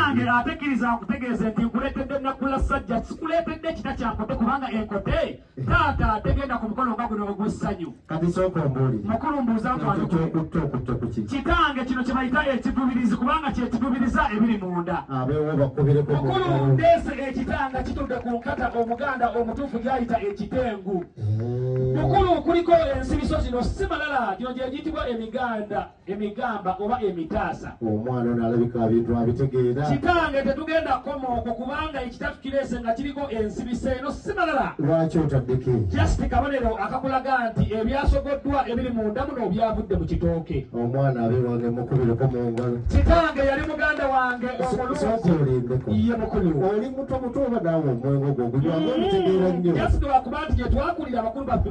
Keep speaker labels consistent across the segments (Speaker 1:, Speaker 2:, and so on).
Speaker 1: Nange ate kkiriza nkutegeeze nti nkuleetedde Naggula Ssajja, sikuleetedde kita kya nkote kubanga enkote taata tegenda ku mukolo nga guno ogw'essanyu. Kati sooka ombuulire.
Speaker 2: Mukulu mbuuza nkwano.
Speaker 1: Ky'okutte okutte
Speaker 2: ku ki? Kitange kino kye bayita
Speaker 1: ekigubirizi kubanga kye kigubiriza ebiri munda. Abeewo bakubireko.
Speaker 2: Mukulu ndeese
Speaker 1: ekitanga kitudde ku nkata Omuganda omutuufu gy'ayita ekitengu. Eh. Mukulu kuliko ensibiso zino si malala gino gye giyitibwa emiganda. emigamba oba emitaasa omwana ono alabika
Speaker 2: abintu abitegeera kitange tetugenda
Speaker 1: kukoma okwo kubanga ekitatu kireese nga kiriko ensibisa eno si malala lwaki otaddeko
Speaker 2: just kabonero
Speaker 1: akakulaga nti ebyasogoddwa ebiri mu nda muno byavudde mu kitooke omwana abe wange
Speaker 2: mukubireko mu ngalo kitange yali muganda
Speaker 1: wange omulungi
Speaker 2: ye mukulu oli
Speaker 1: muto muto oba
Speaker 2: naawe omwengo gwo gulyamu mm-hmm. ebitegeera nnyo just lwakuba nti
Speaker 1: gyetwakulira abakulu baffe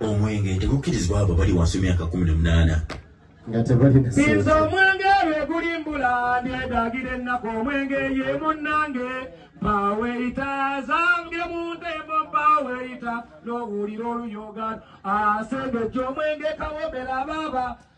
Speaker 1: omwenge nti
Speaker 3: mukkirizibwa abo bali wansi w'emyaka kumi n'omunaana nga
Speaker 2: tebalina nze omwenge
Speaker 1: lwe gulimbula ndyedagira ennaku omwenge ye munnange baweyita zange mu ntembo baweyita n'owulira oluyogano asengejja omwenge kawomera baaba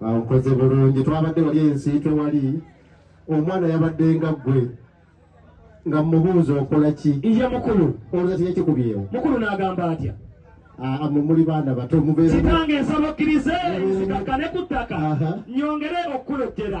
Speaker 2: nkoze bulungi twabadde wali ensiitwe wali omwana yabadde nga ggwe nga mubuuza okola ki iye mukulu
Speaker 1: olwati yakikubyewo
Speaker 2: mukulu n'agamba atya
Speaker 1: ah, amwe muli
Speaker 2: baana bato mubeekitange
Speaker 1: nsaba okkirize nzikakkane ku ttaka
Speaker 2: nyongere
Speaker 1: okukulojjera